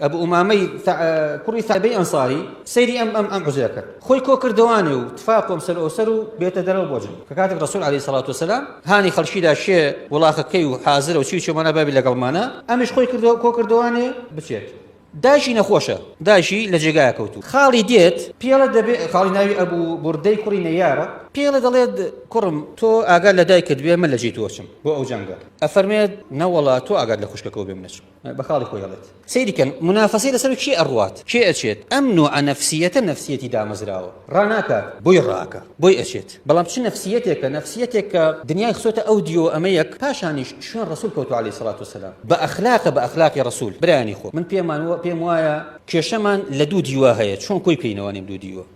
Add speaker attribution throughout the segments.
Speaker 1: ئەبو ئومامەی کوڕی سابەی ئەنساری سەیری ئەم ئەم ئەم عزێ کرد خۆی کۆ کردوانێ و تفاقۆم سەر ئەوسەر و بێتە دەرەوە بۆجن کە کاتێک ڕسول عليه سلاات وسلام هانی خەڵکیدا شێ وڵاخەکەی و حازرە و چی چۆمانە بابی لەگەڵمانە ئەمیش خۆی کردەوە کۆ کردوانێ بچێت داشی نەخۆشە داشی لە جێگای کەوتو خاڵی دێت پێڵە دەبێت خاڵی ناوی ئەبوو بردەی کوڕی نەیارە پێڵە دەڵێت کوڕم تۆ ئاگار لە دایکت بێ من لە جێ تۆچم بۆ ئەو جەنگە ئەفەرمێت نەوەڵا تۆ ئاگات لە خوشکەکەەوە بێ منەچم بە خاڵی خۆی ئەڵێت سەیری کەن منافەسەی لەسەر کێ ئەڕوات کێ ئەچێت ئەم نوعە نەفسیەتە نەفسیەتی دامەزراوە ڕاناکات بۆی ڕاکە بۆی ئەچێت بەڵام چ نەفسیەتێکە نەفسیەتێک کە دنیای خسۆتە ئەو دیۆ ئەمەیەک پاشانیش شوێن ڕسول کەوتو علی سڵات و سلام بە ئەخلاقە بە ئەخلاقی ڕسول برانی خۆ من پێمان پێم وایە کێشەمان لە دوو دیوە هەیە چۆن کۆی پێینەوانیم دوو دیوە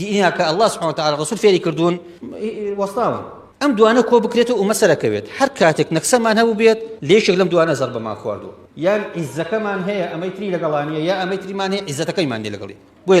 Speaker 1: دینە کە اللە سبحانه وتعالى رسول فێری کردوون وەستاون ئەم دوانە کۆ بکرێت و مەسەرەکەوێت هەر کاتێک نەکسەمان هەبوو بێت لێشێک لەم دوانە زەر بەمان خواردووە یان عیزەکەمان هەیە ئەمەی تری لەگەڵانیە یا ئەمەی تریمان هەیە عیزەتەکەیمان لێ لەگەڵی بۆیە